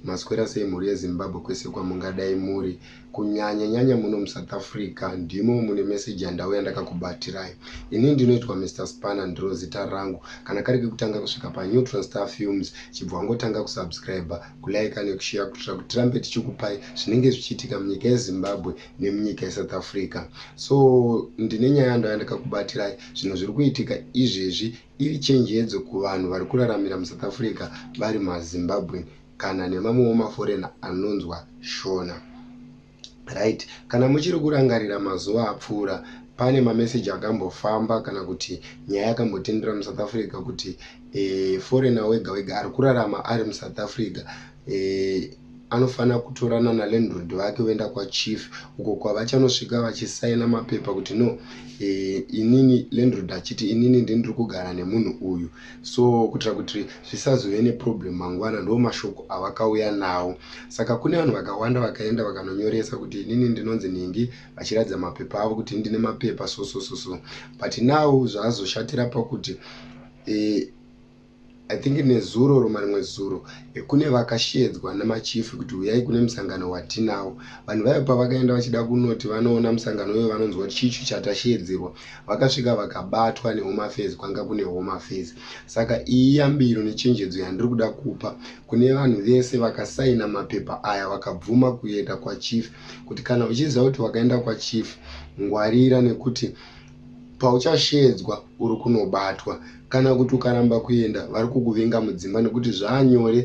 maswera sei mhuri yezimbabwe kwese kwamungadai muri kunyanya nyanya muno musouth africa ndimo mune meseji yandauya ndakakubatirai ini ndinoitwa mr spanner ndiro zita rangu kana kari kekutanga kusvika panew transtar films chibva wangotanga kusubscribe kulaika nekushiya kuitira kuti tirambe tichikupai zvinenge zvichiitika munyika yezimbabwe nemunyika yesouth africa so ndine nyaya ndaya ndakakubatirai zvinhu zviri kuitika izvezvi iri chenjedzo kuvanhu vari kuraramira musouth africa vari mazimbabwen kana nemamwewo maforena anonzwa shona right kana muchiri kurangarira mazuva apfuura pane mameseji akambofamba kana kuti nyaya yakambotendera musouth africa kuti e, foreigner wega wega ari kurarama ari musouth africa e, anofanira kutorana nalandrod vake voenda kwachief uko kwavachanosvika vachisaina mapepa kuti no e, inini landrod achiti inini ndindiri kugara nemunhu uyu so kuitira kuti zvisazove neproblem mangwana ndo mashoko avakauya nawo saka kune vanhu vakawanda vakaenda vakanonyoresa kuti inini ndinonzi nhingi vachiratidza mapepa avo kuti ndine mapepa so so so so but now zvaazoshatira pakuti e, I think nezuro or marimwe zuro eh, kune vakashedzwa namachief kuti huyai kune musangano watinawo vanhu vayo pavakaenda vachida kunoti vanoona musangano uyo vanonzwa kuti chichu chatashedzerwa vakasvika vakabatwa nehome affairs kwanga kune home affairs saka iyi yambiro nechenjedzo yandiri kuda kupa kune vanhu vese vakasaina mapepa aya vakabvuma kuenda kwachief kuti kana uchiziva kuti wakaenda kwachief ngwarira nekuti pauchasheedzwa uri kunobatwa kana kuti ukaramba kuenda vari kukuvinga mudzimba nekuti zvaanyore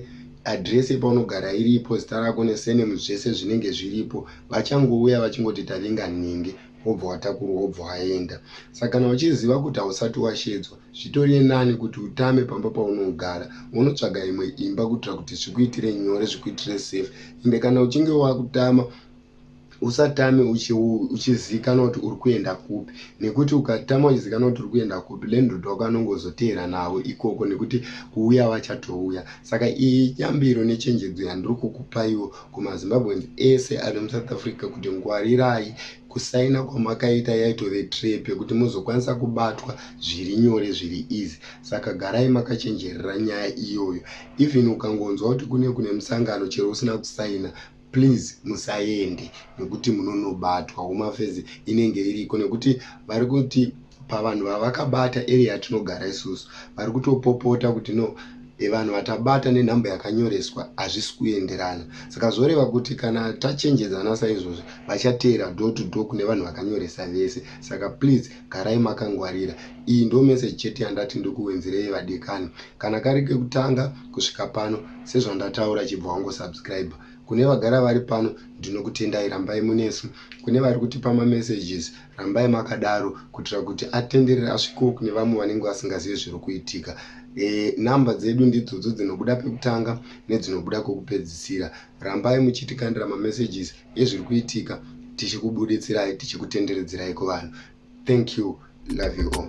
adhiresi yepaunogara iripo zita rako nesenemu zvese zvinenge zviripo vachangouya vachingoti tavinga nhingi wobva watakurwa wobva waenda saka kana uchiziva kuti hausati washeedzwa zvitoriye nani kuti utame pamba paunogara wonotsvaga imwe imba kuitira kuti zvikuitire nyore zvikuitire safe ende kana uchinge wakutama usatame uchizikanwa kuti uri kuenda kupi nekuti ukatama uchizikanwa kuti uri kuenda kupi landlord wako anongozoteera navo ikoko nekuti kuuya vachatouya saka iyi yambiro nechenjedzo yandiri kukupaiwo kumazimbabweans ese ari musouth africa kuti ngwarirai kusaina kwamakaita yaitove trep yekuti muzokwanisa kubatwa zviri nyore zviri easy saka garai makachenjerera nyaya iyoyo even ukangonzwa kuti kune kune musangano chero usina kusaina please musaende nekuti munonobatwa home affairs inenge iriko nekuti vari kuti pavanhu vavakabata area yatinogara isusu vari kutopopota kuti no evanhu vatabata nenhamba yakanyoreswa hazvisi kuenderana saka zvoreva kuti kana tachenjedzana saizvozvi vachateera do to do kune vanhu vakanyoresa vese saka please Garai makangwarira. Iyi ndo message chete yandati ndikuwenzirei vadikani. Kana kari kekutanga kusvika pano sezvandataura chibva wango subscriber. Kune vagara vari pano ndinokutendai rambai munesu. Kune vari kutipa ma messages rambai makadaro kuitira kuti atenderere asvikewo kune vamwe vanenge vasingazive zviri kuitika. E, number dzedu ndidzodzo dzinobuda pekutanga nedzinobuda kokupedzisira. rambai muchitikandira mamessages ezviri kuitika tichikubuditsirai tichikutenderedzerai kuvanhu thank you love you all